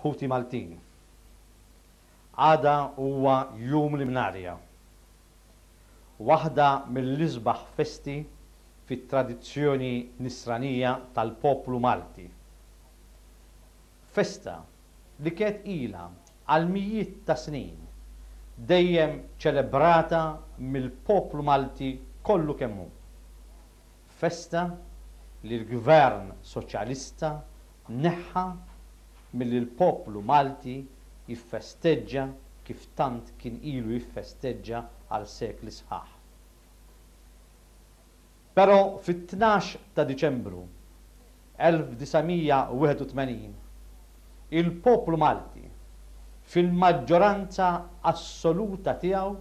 Ħuti Maltin. Għada huwa Jum l-Imnarja. Waħda mill-isbaħ festi fit-tradizzjoni Nisranija tal-poplu Malti. Festa li kienet ilha għal mijiet ta' snin dejjem ċelebrata mill-poplu Malti kollu kemm hu. Festa li l-Gvern Soċjalista neħħa milli l-poplu Malti jiffesteġġa kif tant kien ilu jiffesteġġa għal sekli sħaħ. Pero fit-tnax ta' Diċembru 1981, il-poplu Malti, fil-maġġoranza assoluta tiegħu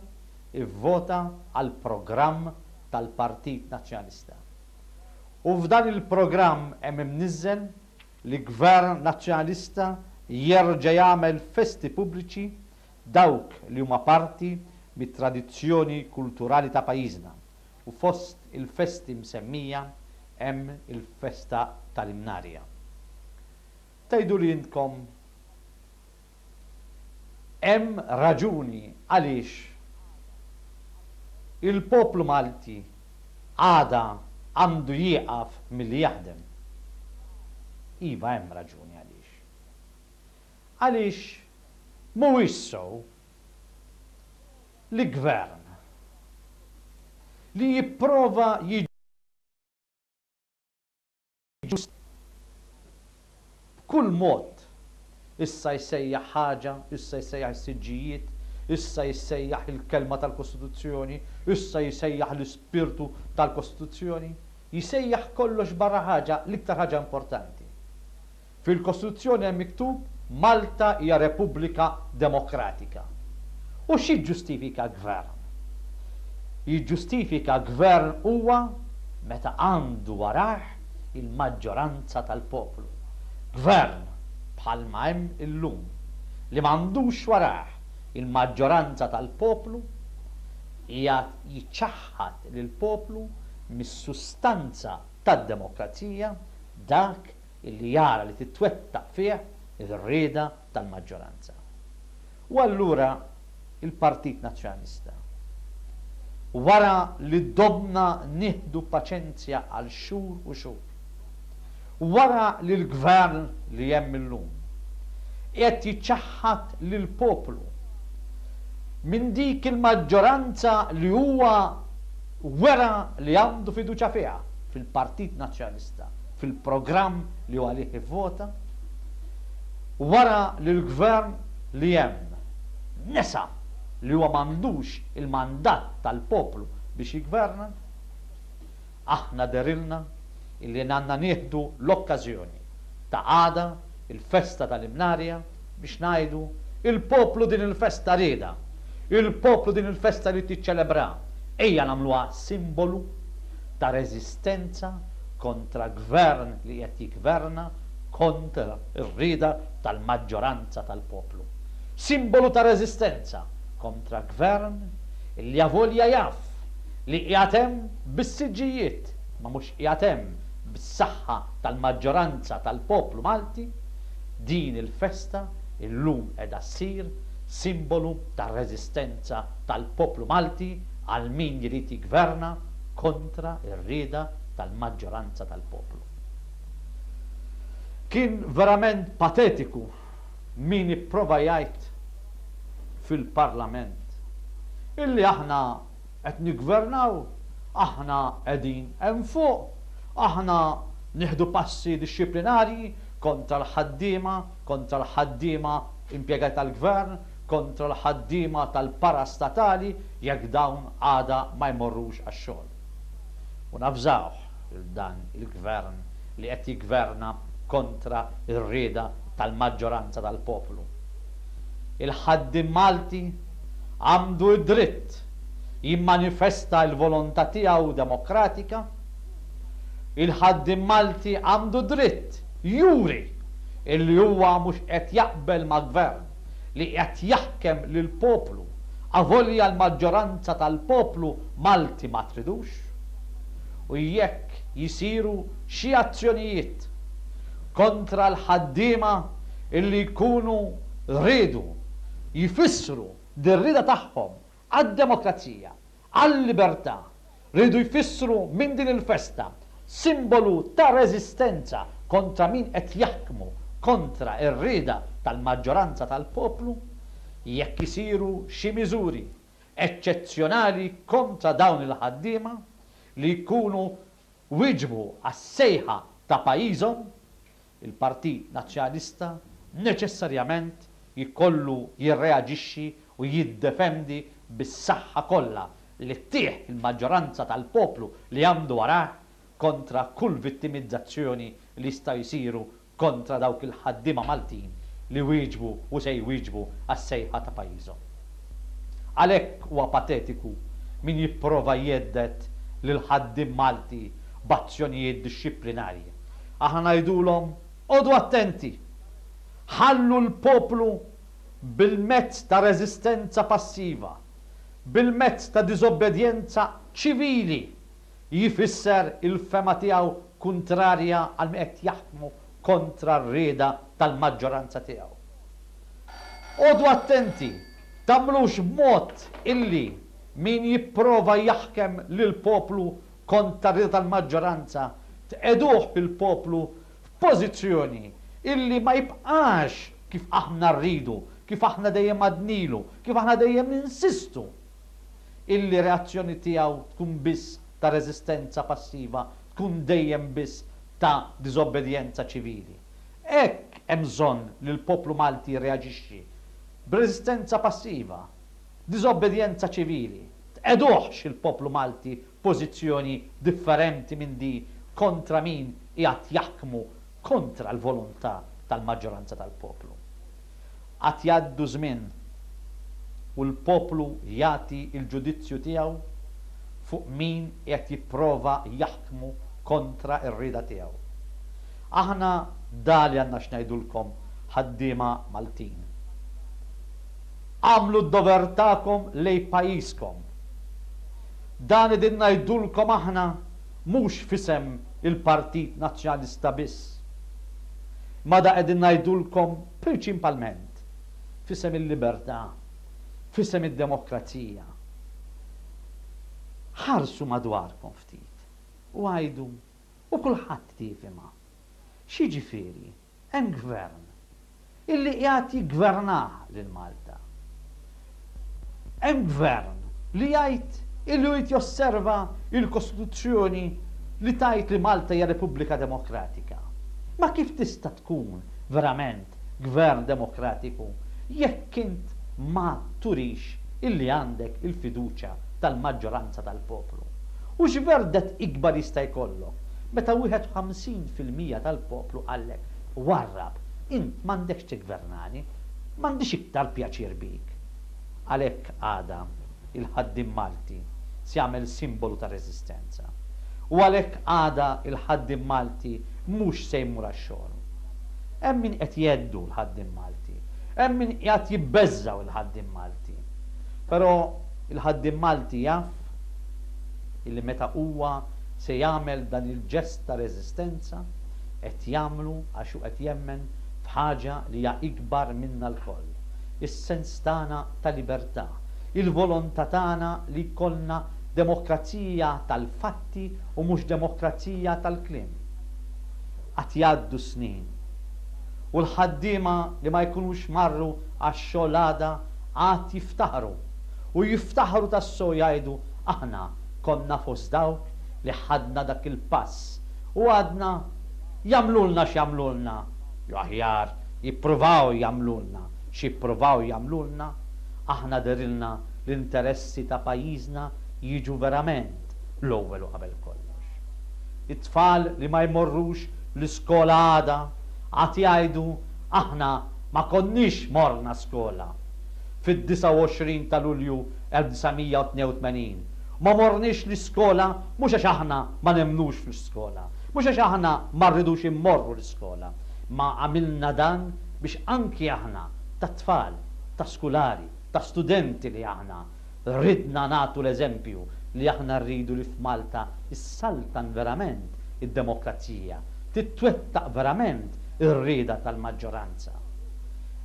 vvota għall-programm tal-Partit Nazzjonalista. U f'dan il-programm hemm imniżżel li Gvern Nazzjonalista jerġa' jagħmel festi pubbliċi dawk li huma parti mit-tradizzjoni kulturali ta' pajjiżna. u fost il-festi msemmija hemm il-festa tal-Imnarja. Tgħiduli intkom hemm raġuni għaliex il-poplu Malti għada għandu jieqaf milli jaħdem? Iva hemm raġuni għaliex. Għaliex mhuwiex sew l-Gvern li jipprova jiġġustifika b'kull mod, issa jsejjaħ ħaġa, issa jsejjaħ is-siġġijiet, issa jsejjaħ il-kelma tal-Kostituzzjoni, issa jsejjaħ l-ispirtu tal-Kostituzzjoni, jsejjaħ kollox barra ħaġa, l-iktar ħaġa importanti. Fil-Kostituzzjoni hemm miktub Malta hija Repubblika Demokratika. U x'jiġġustifika Gvern? Jiġġustifika Gvern huwa meta għandu warajh il-maġġoranza tal-poplu. Gvern, bħalma hemm illum, li m'għandux warajh il-maġġoranza tal-poplu qiegħed jiċċaħħad lill-poplu mis-sustanza tad-demokrazija, dak illi jara li titwettaq fih ir-rieda tal-maġġoranza. U allura il-Partit Nazzjonalista, wara li domna nieħdu paċenzja għal xhur u xhur, wara li l-Gvern li hemm illum qiegħed jiċċaħħad lill-poplu minn dik il-maġġoranza li huwa wera li għandu fiduċja fiha fil-Partit Nazzjonalista, fil-programm li hu għalih ivvota, wara li l-Gvern li hemm nesa li huwa m'għandux il-mandat tal-poplu biex jiggverna, aħna dehrilna li għandna nieħdu l-okkażjoni ta' għada, Il-festa tal-Imnarja, biex ngħidu, il-poplu din il-festa riedha, il-poplu din il-festa jrid jiċċelebraha, ejja nagħmluha simbolu ta' reżistenza kontra gvern li qed jiggverna kontra r-rieda tal-maġġoranza tal-poplu. Simbolu ta' reżistenza kontra gvern li avolja jaf li qiegħed hemm bis-siġġijiet ma mhux Qiegħed hemm bis-saħħa tal-maġġoranza tal-poplu Malti, din il-festa illum qiegħda ssir simbolu tar-reżistenza tal-poplu Malti għal min jrid jiggverna kontra r-rieda tal-maġġoranza tal-poplu. Kien verament patetiku min ipprova jgħid fil-Parlament illi aħna Qed niggvernaw, aħna qegħdin hemm fuq, aħna nieħdu passi dixxiplinarji kontra l-ħaddiema, kontra l-ħaddiema impjegati tal-gvern, kontra l-ħaddiema tal-parastatali jekk dawn għada ma jmorrux għax-xogħol. U navżawh lil dan il-gvern li qed jiggverna kontra r-rieda tal-maġġoranza tal-poplu. Il-ħaddiem Malti, għandu d-dritt jimmanifesta l-volontà tiegħu demokratika, il-ħaddiem Malti għandu dritt juri li huwa mhux qed jaqbel ma' Gvern li qed jaħkem lill-poplu avolja l-maġġoranza tal-poplu Malti ma tridux. U jekk jsiru xi azzjonijiet kontra l-ħaddiema li jkunu riedu jfissru dir-rieda tagħhom għad-demokrazija, għal-libertà, riedu jfissru minn din il-festa simbolu ta' reżistenza kontra min qed jaħkmu kontra r-rieda tal-maġġoranza tal-poplu, jekk isiru xi miżuri eċċezzjonali kontra dawn il-ħaddiema li jkunu wieġbu għas-sejħa ta' pajjiżhom Il-Partit Nazzjonalista neċessarjament jkollu jirreaġixxi u jiddefendi bis-saħħa kollha li ttih il-maġġoranza tal-poplu li għamdu warajh kontra kull vittimizzazzjoni li jistgħu jsiru kontra dawk il-ħaddiema Maltin li wieġbu u se jwieġbu għas-sejħa ta' pajjiżhom. Għalhekk huwa patetiku min jipprova jhedded lill-ħaddiem Malti b'azzjonijiet dixxiplinarji Aħna ngħidulhom, Qogħdu attenti! Ħallu l-poplu bil-mezz ta' reżistenza passiva, bil-mezz ta' diżobbedjenza ċivili jfisser il-fehma tiegħu kuntrarja għal min qed jaħkmu kontra r-rieda tal-maġġoranza tiegħu. Qogħdu attenti, tagħmlux b'mod illi min jipprova jaħkem lill-poplu kontra r-rieda tal-maġġoranza, tqiegħduh fil-poplu f'pożizzjoni illi ma jibqax kif aħna rridu, kif aħna dejjem għadnilu, kif aħna dejjem ninsistu illi reazzjoni tiegħu tkun biss ta' reżistenza passiva, tkun dejjem biss ta' diżobbedjenza ċivili. Hekk hemm bżonn li l-poplu Malti jirreaġixxi, b'reżistenza passiva. Diżobbedjenza ċivili, tqegħduhx il-poplu Malti f'pożizzjoni differenti minn di kontra min qiegħed jaħkmu kontra l-volontà tal-maġġoranza tal-poplu. Għad jgħaddu żmien u l-poplu jagħti l-ġudizzju tiegħu fuq min qiegħed jipprova jaħkmu kontra r-rieda tiegħu. Aħna da li għandna x'ngħidulkom ħaddiema Maltin. Agħmlu d-dover tagħkom lejn pajjiżkom. Dan qegħdin ngħidulkom aħna mhux f'isem il-Partit Nazzjonalista biss, imma da qegħdin ngħidulkom prinċipalment f'isem il-libertà, f'isem id-demokrazija. Ħarsu madwarkom ftit u għidu, u kulħadd jifhimha, x'jiġifieri Hemm Gvern illi qiegħed jiggvernaha lil Malta. Hemm Gvern li jgħid illi hu jrid josserva l-Kostituzzjoni li tgħid li Malta hija Repubblika Demokratika. Ma kif tista' tkun verament Gvern demokratiku jekk int ma turix illi għandek il-fiduċja tal-maġġoranza tal-poplu? U x'verdett ikbar jista' jkollok Meta 51 fil-mija tal-poplu qallek, warrab, int m'għandekx tiggvernani, m'għandix iktar pjaċir bik. Għalhekk għada, il-ħaddiem Malti se jagħmel simbolu ta' reżistenza. U għalhekk għada il-ħaddiem Malti mhux se jmur għax-xogħol. Hemm min qed jheddu l-ħaddiem Malti. Hemm min qiegħed jibbeżżgħu il-ħaddiem Malti. Però il-ħaddiem Malti jaf illi meta huwa Se jagħmel dan il-ġest ta' reżistenza qed jagħmlu għax hu qed jemmen f'ħaġa li hija ikbar minna lkoll, is-sens tagħna ta' libertà, il-volontà tagħna li jkollna demokrazija tal-fatti u mhux demokrazija tal-kliem. Għad jgħaddu s-snin u l-ħaddiema li ma jkunux marru għax-xogħol għada għad jiftaħru u jiftaħru tassew jgħidu aħna Konna fost dawk li ħadna dak il-pass u għadna, Jagħmlulna x'jagħmlulna, jew aħjar, jippruvaw jagħmlulna x'jippruvaw jagħmlulna, aħna dehrilna l-interessi ta' pajjiżna jiġu verament l-ewwel u qabel kollox. It-tfal li ma jmorrux l-iskola għada għad jgħidu aħna ma konniex morna skola fid-29 ta' Lulju 1982 Ma morniex l-iskola mhux għax aħna ma nemmnux fl-iskola, mhux għax aħna ma rridux immorru l-iskola, imma għamilna dan biex anki aħna ta' tfal, ta' skulari, ta' studenti li aħna ridna nagħtu l-eżempju li aħna rridu li f'Malta ssaltan verament id-demokrazija, titwettaq verament ir-rieda tal-maġġoranza.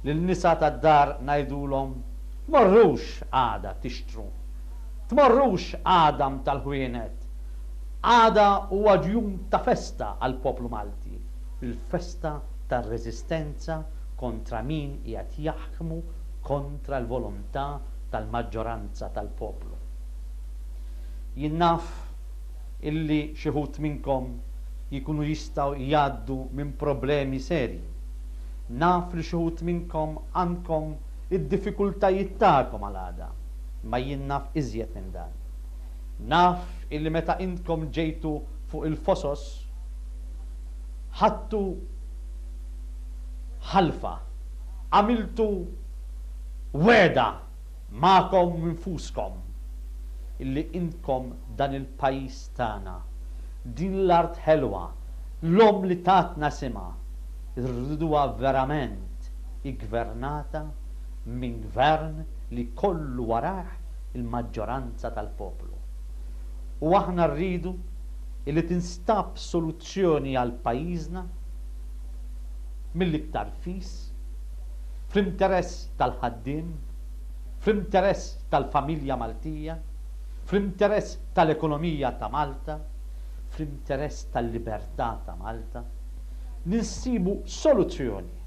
Lin-nisa tad-dar ngħidulhom Tmorrux għada tixtru. Tmorrux għada mta' l-ħwienet. Għada huwa jum ta' festa għall-poplu Malti, il-festa tar-reżistenza kontra min qiegħed jaħkmu kontra l-volontà tal-maġġoranza tal-poplu. Jien naf illi xi wħud minnkom jkunu jistgħu jgħaddu minn problemi serji. Naf li xi wħud minnkom għandkom id-diffikultajiet tagħkom għal għada, imma jien naf iżjed minn dan. Naf illi meta intkom ġejtu fuq il-fosos, ħadtu ħalfa, għamiltu wegħda magħkom infuskom, illi intkom dan il-pajjiż tagħna, din l-art ħelwa, l-omm li tatna isimha, Irriduha verament iggvernata minn gvern li jkollu warajh il-maġġoranza tal-poplu. U aħna rridu li tinstab soluzzjoni għal pajjiżna mill-iktar fis, fl-interess tal-ħaddiem, fl-interess tal-familja Maltija, fl-interess tal-ekonomija ta' Malta, fl-interess tal-libertà ta' Malta. li nsibu soluzzjoni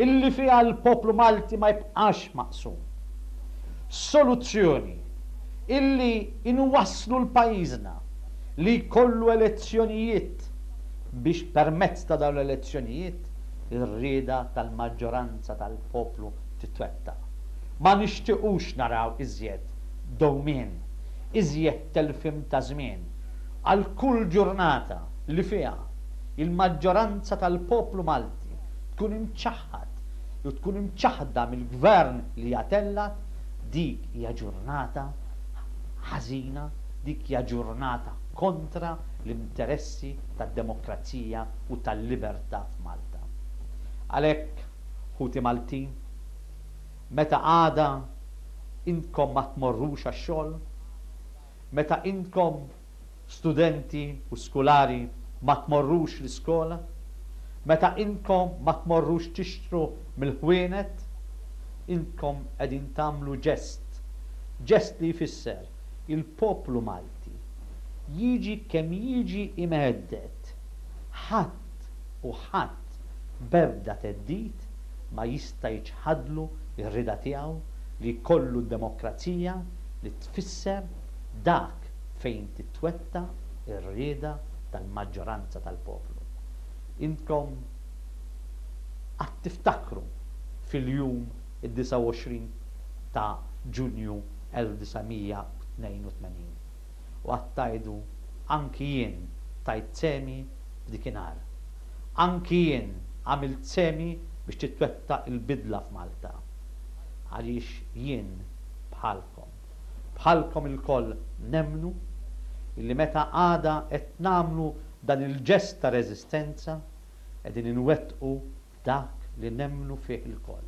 illi fiha l-poplu Malti ma jibqax maqsum. Soluzzjoni illi inwasslu l-pajjiżna li jkollu elezzjonijiet biex permezz ta' dawn l-elezzjonijiet ir-rieda tal-maġġoranza tal-poplu titwettaq. Ma nixtiequx naraw iżjed dewmien, iżjed telfim ta' żmien għal kull ġurnata. li fiha l-maġġoranza tal-poplu Malti tkun imċaħħad u tkun imċaħħda mill-Gvern li jattellat, dik hija ġurnata ħażina, dik hija ġurnata kontra l-interessi tad-demokrazija u tal-libertà f'Malta. Għalhekk, ħuti Maltin, meta għada intkom ma tmorrux għax-xogħol, meta intkom, studenti u skulari ma tmorrux l-iskola? Meta intkom ma tmorrux tixtru mill-ħwienet, intkom qegħdin tagħmlu ġest, ġest li jfisser il-poplu Malti, jiġi kemm jiġi imhedded, ħadd u ħadd b'ebda theddid ma jista' jiċħadlu r-rieda tiegħu li jkollu d-demokrazija li tfisser dak fejn titwettaq ir-rieda tal-maġġoranza tal-poplu. Intkom għad tiftakru fil-jum id-29 ta' Ġunju 1982 u għad tgħidu anki jien tajt sehmi f'dik inhar. Anki jien għamilt sehmi biex titwettaq il-bidla f'Malta. Għaliex jien bħalkom. Bħalkom ilkoll nemmnu illi meta għada qed nagħmlu dan il-ġest ta' reżistenza qegħdin inwettqu dak li nemmnu fih ilkoll,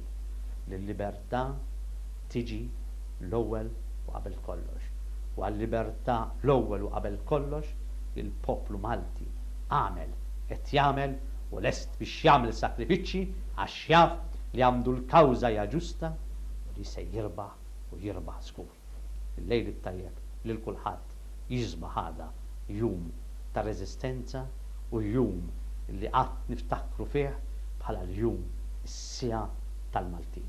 li l-libertà tiġi l-ewwel u qabel kollox. U għal-libertà l-ewwel u qabel kollox il-poplu Malti għamel, qed jagħmel u lest biex jagħmel sakrifiċċji għax jaf li għamdu l-kawża hija ġusta u li se jirbaħ u jirbaħ żgur. Il-lejl it-tajjeb lil kulħadd jisbaħ għada jum ta' reżistenza u jum li qatt niftakru fih bħala l-jum is-siegħa tal-Maltin.